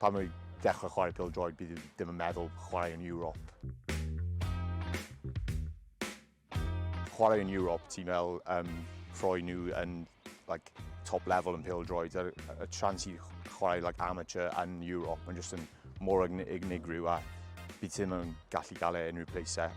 Pan o'n i'n dechrau chwarae pêl-droed, bydd i ddim yn meddwl chwarae yn Ewrop. Chwarae yn Ewrop, ti'n fel um, rhoi nhw yn like, top level yn pêl-droed. Y, y trans i chwarae like, amateur yn Ewrop, mae'n jyst yn mor unigryw a bydd ti ddim yn gallu gael e unrhyw pleisau.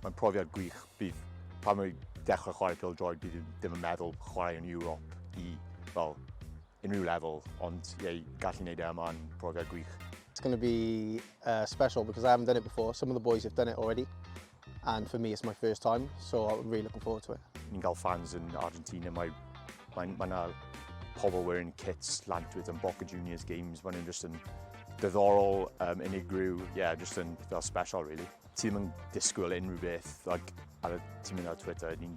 Mae'n profiad gwych. Bydd pan mae dechrau chwarae pil droed, bydd ddim yn meddwl chwarae yn Ewrop i fel unrhyw lefel, ond ie, gallu gwneud e yma yn profiad gwych. It's going to be uh, special because I haven't done it before. Some of the boys have done it already. And for me it's my first time, so I'm really looking forward to it. Ni'n cael fans yn Argentina, mae mae mae yna pobl wearing kits lant with yn Boca Juniors games, mae'n just yn diddorol, um, unigryw, yeah, just yn fel special really. Ti'n mynd disgwyl unrhyw beth, like, ar y ti'n mynd ar Twitter, ni'n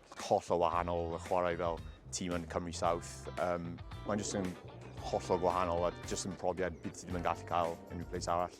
Hollol wahanol y chwarae fel tîm yn Cymru South. Um, Mae'n jyst yn hollol gwahanol a jyst yn profiad bydd ti ddim yn gallu cael unrhyw place arall.